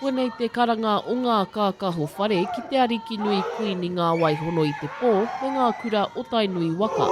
Koinei te karanga o ngā kākaho whare ki te Arikinui Kuini Ngāwaihono i te pō me ngā kura o Tainui waka.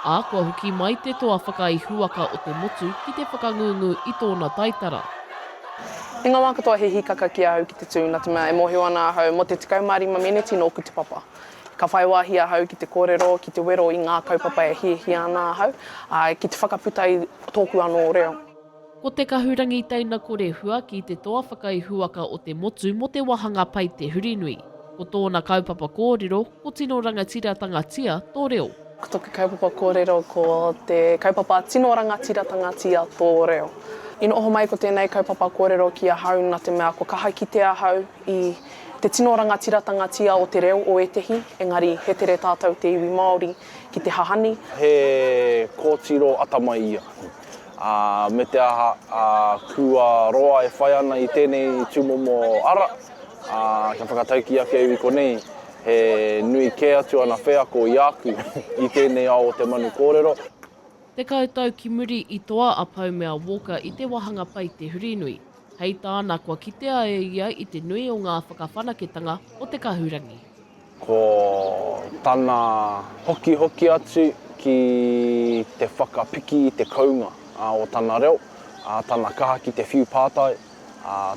Ā, kua hoki mai te toa whakaihuwaka o te motu ki te whakangungu i tōna taitara. I ngā wā katoa he hīkaka ki ahau ki te tū, nā te mea e mōhio ana ahau mō te 15 meneti nōku te papa. Ka whai wāhi ahau ki te kōrero, ki te wero i ngā kaupapa e hiahia ana ahau, ā, ki te whakaputa i tōku anō reo. Ko te kahurangi teina kore hua ki te toa whakaihuwaka o te motu mō te wāhanga pai te Hurinui. Ko tōna kaupapa kōrero, Ko tino rangatiratanga-tia to reo. Ko toku kaupapa korero ko te kaupapa tino rangatiratanga-tia to reo. I noho mai ko tenei kaupapa korero ki ahau na te mea kua kaha kite ahau i te tino rangatiratanga-tia o te reo o etehi, engari he tere tatou te iwi Maori ki te hahani. He kotiro atamai ia. A me te aha, a kua roa e whai ana i tenei tumomo ara, Ā, kia whakataukī ake au i konei, he nui kē atu ana wheako i āku i tēnei ao o te manu kōrero. Tekau tau ki muri i toa a Paumea Walker i te wāhanga pai Te Hurinui. Hei tāna kua kitea e ia i te nui o ngā whakawhanaketanga o te kahurangi. Ko tana hokihoki atu ki te whakapiki i te kounga o tana reo, tana kaha ki te whiu pātai,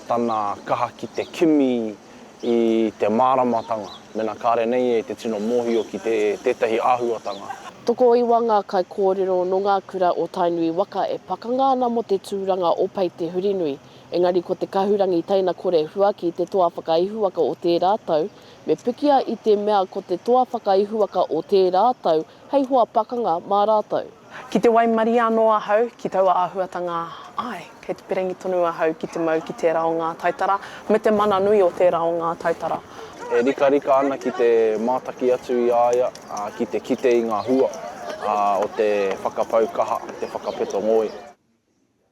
tana kaha ki te kimi i te māramatanga mena kāre nei e te tino mōhio ki tētahi āhuatanga. Tokoiwa ngā kaikōrero nō ngā kura o Tainui waka e pakanga ana mō te tūranga o Pai Te Hurinui, engari ko te kahurangi teina kore huaki te toa whakaihuwaka o tērā tau, Me pikia i te mea ko te toa whakaihuwaka o tērā tau hei hoa pakanga mā rātou. Ki te waimarie anō ahau ki taua āhuatanga, āe, kei te perengi tonu ahau ki te mau ki tērā o ngā taitara me te mana nui o tērā o ngā taitara. E rikarika ana ki te mātaki atu i a ia ki te kite i ngā hua o te whakapau kaha, te whakapeto ngoi.